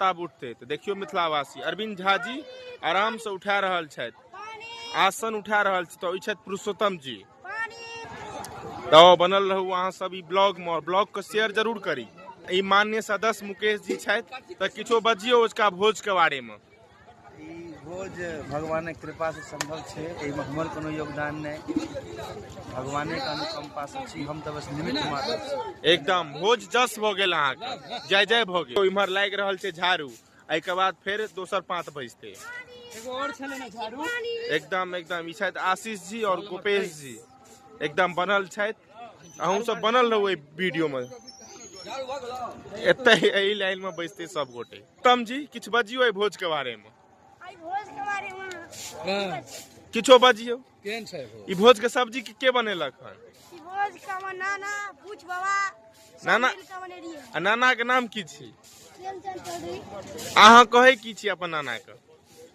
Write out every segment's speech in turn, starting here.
ताब उठते तऽ देखियौ मिथिलावासी अरविंद झा जी आराम से उठा रहल छथि आसन उठा रहल छथि तऽ ई छथि पुरुषोत्तम जी तऽ बनल रहू अहाँ सब ई ब्लॉग मे ब्लॉग के शेयर जरूर करी ई मान्य सदस्य मुकेश जी छथि तऽ किछो बजियौ उसका भोज के बारे मे ई भोज भगवानक कृपासँ सम्भव छै एहिमे हमर कोनो योगदान नहि भगवानेके अनुकम्पासँ छी हम तऽ बस निमित्त मात्र छी एकदम भोज जस भऽ गेल अहाँके जय जय भऽ गेल इम्हर लागि रहल छै झाड़ू एहिके बाद फेर दोसर पाँत बजतै एकदम एकदम ई छथि आशीष जी आओर गोपेश जी एकदम बनल छथि अहूँ सब बनल रहू एहि वीडियोमे एतहि एहि लाइनमे बैसतै सभगोटे उत्तम जी किछु बजियो एहि भोज के बारे में आई भोज के बारे में किछो बजियो केहन छै हो ई भोज के सब्जी के के बनेलक हन ई भोज के हमर नाना पूछ बाबा सब नाना- मिल के बने रहिए आ नाना के नाम की छी प्रेमचंद चौधरी अहाँ कहै की छी अपन नाना के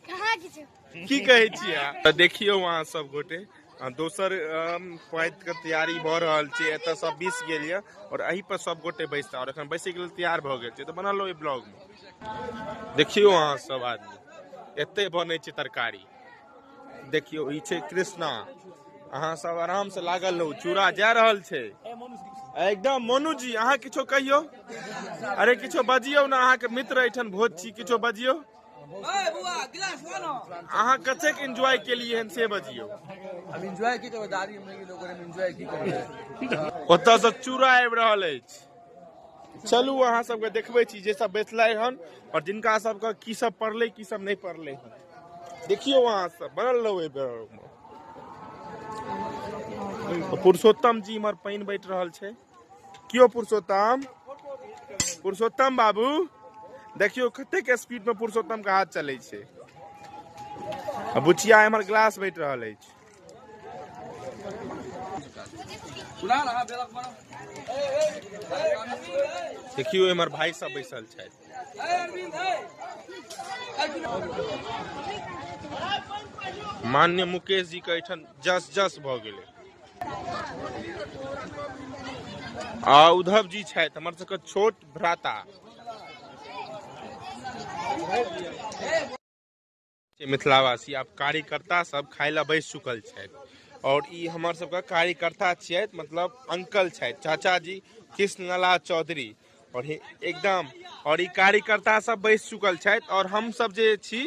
कहाँ किछु की कहै छी अहाँ तऽ देखियौ अहाँ सब गोटे आ दोसर अम, पातिके तैयारी भऽ रहल छै एतऽ सब बीस गेल यऽ आओर एहि पर सब गोटे बैसता आओर एखन बैसैके लेल तैयार भऽ गेल छै तऽ बनल ओहि ब्लॉगमे देखियौ अहाँ सब आदमी एते बनै छै तरकारी देखियौ ई छै कृष्णा अहाँ सब आराम से लागल रहू चूड़ा जा रहल छै एकदम मोनू जी अहाँ किछो कहियौ अरे किछो बजियौ ने अहाँके मित्र एहिठाम भोज छी किछो बजियौ अहाँ कतेक एंजॉय केलियै हन से बजियौ अब एंजॉय की करबै दादी हमने के लोग हम एंजॉय की करबै ओतऽ से चूड़ा आबि रहल अछि चलू अहाँ सबके देखबै छी जे सब बैठलै हन और जिनका सबके की सब पढ़लै की सब नहि पढ़लै हन देखियौ अहाँ सब बनल रहू एहि बेर पुरुषोत्तम जी इम्हर पानि बैठ रहल छै कियो पुरुषोत्तम पुरुषोत्तम बाबू देखियो कतेक स्पीड में पुरुषोत्तम के हाथ चले छै आ बुचिया एम्हर ग्लास बैठ रहल अछि देखियो एम्हर भाई सब बैसल छथि मान्य मुकेश जी के एहिठाम जस जस भऽ गेलै आ उद्धव जी छथि हमर सबके छोट भ्राता मिथिलावासी आब कार्यकर्ता सब खाय लए बैस चुकल छथि और ई हमर सबके कार्यकर्ता छियथि मतलब अंकल छथि चाचा जी कृष्णलाल चौधरी और हे- एकदम और ई कार्यकर्ता सब बैस चुकल छथि और हम सब जे छी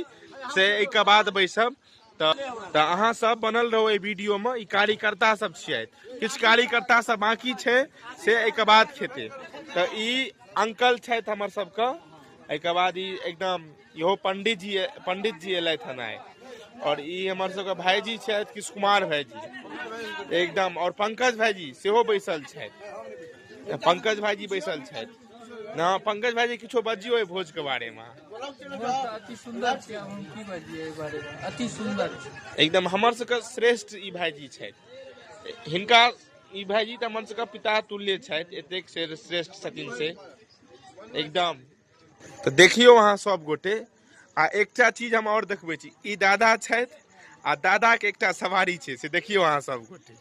से एहिके बाद बैसब तऽ तऽ अहाँ सब बनल रहू एहि वीडियो में ई कार्यकर्ता सब छियथि किछु कार्यकर्ता सब बाकी छै से एहिके बाद खेते तऽ ई अंकल छथि हमर सबके एहिके बाद ई एकदम इहो पंडित जी पंडित जी एलथि हन आइ और ई हमर सबके भाईजी छथि किशु कुमार भाईजी एकदम और पंकज भाईजी सेहो बैसल छथि पंकज भाईजी बैसल छथि ना पंकज भाईजी किछो बजियो भोज के बारे में अति सुंदर छै हम की बजिए एहि बारे में अति सुंदर एकदम हमर सबके श्रेष्ठ ई भाईजी छथि हिनका ई भाईजी तऽ हमर सबके पिता तुल्य छथि एतेक श्रेष्ठ छथिन से एकदम तऽ देखियौ अहाँ सब गोटे आ एकटा चीज हम और देखबै छी ई दादा छथि आ दादा के एकटा सवारी छै से देखियौ अहाँ सब गोटे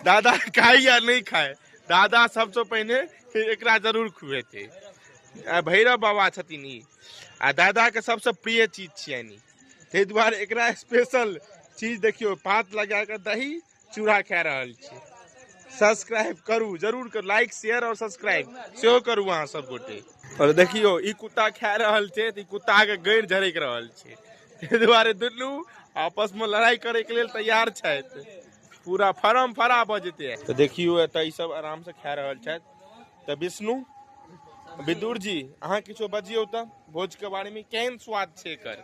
दादा खाय या नहि खाय दादा सबसँ पहिने से एकरा जरूर खुएतै आ भैरव बाबा छथिन ई आ दादा के सबसँ प्रिय चीज छियनि ई ताहि दुआरे एकरा स्पेशल चीज देखियौ पात लगा कऽ दही चूड़ा खा रहल छी सब्सक्राइब करू जरूर करू लाइक शेयर और सब्सक्राइब सेहो करू अहाँ सब गोटे और देखियो ई कुत्ता खा रहल छै तऽ ई कुत्ता के गैर झरक रहल छै ताहि दुआरे दुनू आपस में लड़ाई करे के लेल तैयार छथि पूरा फरम फरा भऽ जेतै तऽ देखियो एतऽ ई सब आराम से खा रहल छथि तऽ विष्णु विदुर जी अहाँ किछो बजियौ तऽ भोज के बारे में केहन स्वाद छै एकर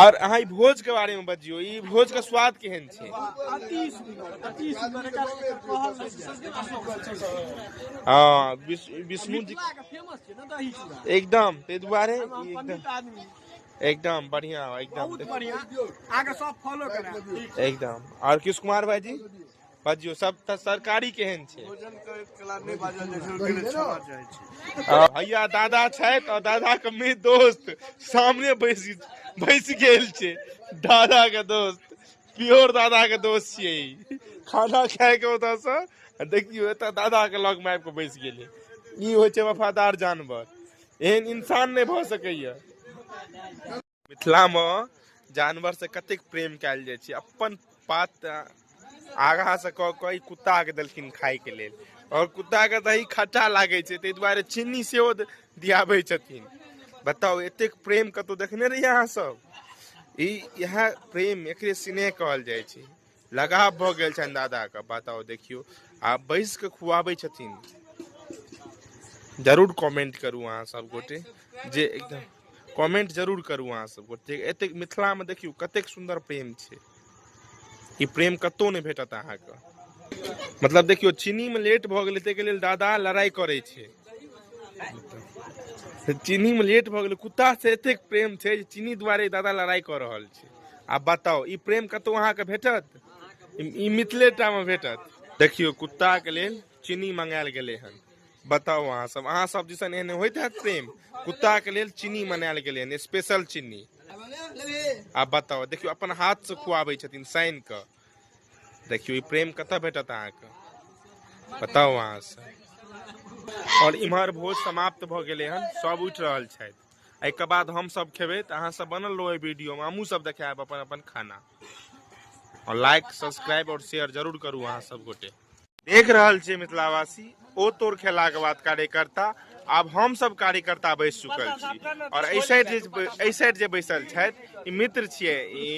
और अहाँ भोज के बारे में बजियो ई भोज के स्वाद केहन छै हाँ विष्णु जी एकदम ताहि दुआरे एकदम बढ़िया एकदम एकदम और किस कुमार भाई जी बाजियो सब तऽ सरकारी केहन छै भैया दादा छथि और दादा के मेरे दोस्त सामने बैस बैस गेल छै दादा के दोस्त प्योर दादा के दोस्त छियै ई। खाना खाय के ओतऽ से आ देखियो एतऽ दादा के लग में आबि के बैस गेलै ई होइ छै वफादार जानवर एहन इंसान नहि भऽ सकैया मिथिला में जानवर से कतेक प्रेम कयल जाय छै अपन पात आगा से कह के कुत्ता के देलखिन खाय के लेल और कुत्ता के दही खट्टा लागे छै ताहि दुआरे चीनी सेहो दियाबे छथिन बताउ एतेक प्रेम कतौ देखने रहियै अहाँ सब ई इएह प्रेम एकरे स्नेह कहल जाइ छै लगाव भऽ गेल छनि दादाके बताउ देखियौ आ बैस कऽ खुआबै छथिन जरूर कमेंट करू अहाँ सब गोटे जे एकदम कमेंट जरूर करू अहाँ सब गोटे एतेक मिथिलामे देखियौ कतेक सुन्दर प्रेम छै ई प्रेम कतहु नहि भेटत अहाँके मतलब देखियौ चीनीमे लेट भऽ गेलै ताहिके लेल दादा लड़ाइ करै छै चीनीमे लेट भऽ गेलै कुत्तासँ एतेक प्रेम छै जे चीनी दुआरे दादा लड़ाइ कऽ रहल छै आ बताउ ई प्रेम कतहु अहाँके भेटत ई मिथिलेटामे भेटत देखियौ कुत्ताके लेल चीनी मंगायल गेलै हन बताउ अहाँ सब अहाँ सब दिसन एहन होइत हैत प्रेम कुत्ताके लेल चीनी मनायल गेलै हन स्पेशल चीनी आ बताउ देखियौ अपन हाथसँ खुआबै छथिन सानि कऽ देखियौ ई प्रेम कतऽ भेटत अहाँके बताउ अहाँ सब आओर इम्हर भोज समाप्त भऽ गेलै हन सब उठि रहल छथि एहिके बाद हमसभ खेबै तऽ अहाँसभ बनल रहू एहि वीडियोमे हमहूँसभ देखायब अपन अपन खाना आओर लाइक सब्सक्राइब आओर शेयर जरूर करू अहाँ सब गोटे देख रहल छियै मिथिलावासी ओ तोर खेलाके बाद कार्यकर्ता आब हमसभ कार्यकर्ता बैस चुकल छी आओर एहि साइड जे एहि साइड जे बैसल छथि ई मित्र छियै ई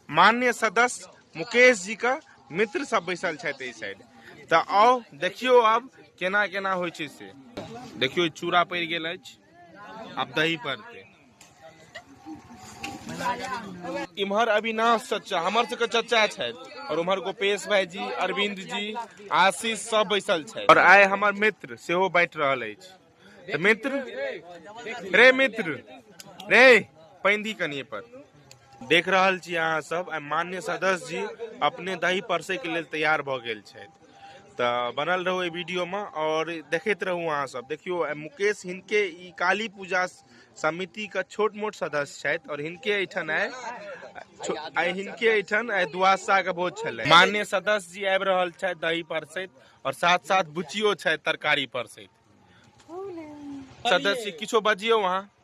मान्य सदस्य मुकेश जीके मित्र सब बैसल छथि एहि साइड तऽ आउ देखियौ आब केना केना होइ छै से देखियौ चूड़ा पड़ि गेल अछि आब दही पड़तै इम्हर अविनाश चचा हमर सबके चचा छथि और उम्हर गोपेश भाई जी अरविंद जी आशीष सब बैसल छथि और आइ हमर मित्र सेहो बैठ रहल अछि तऽ मित्र रे मित्र रे पानि दी कनिए पर देख रहल छी अहाँ सब आइ मान्य सदस्य जी अपने दही परसै के लेल तैयार भऽ गेल छथि तऽ बनल रहू एहि वीडियोमे आओर देखैत रहू अहाँसभ देखियौ आइ मुकेश हिनके ई काली पूजा समितिके छोट मोट सदस्य छथि आओर हिनके एहिठाम आइ छो- आइ हिनके एहिठाम आइ दुआसाके भोज छलै मान्य सदस्य जी आबि रहल छथि दही परसैत आओर साथ साथ बुचियो छथि तरकारी परसैत सदस्य जी, किछो बजियौ अहाँ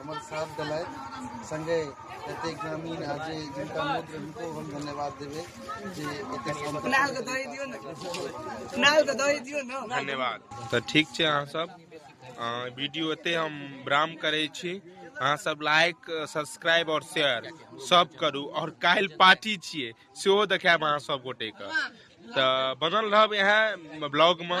हमर साथ देलथि संगे एते ग्रामीण आ जे जिनका मूत रहनि हुनको हम धन्यवाद देबै जे एते धन्यवाद तऽ ठीक छै अहाँ सब अ, वीडियो एते हम विराम करै छी अहाँ सब लाइक सब्सक्राइब और शेयर सब करू और काल्हि पार्टी छियै सेहो देखायब अहाँ सब गोटे के तऽ बनल रहब इएह ब्लॉग मे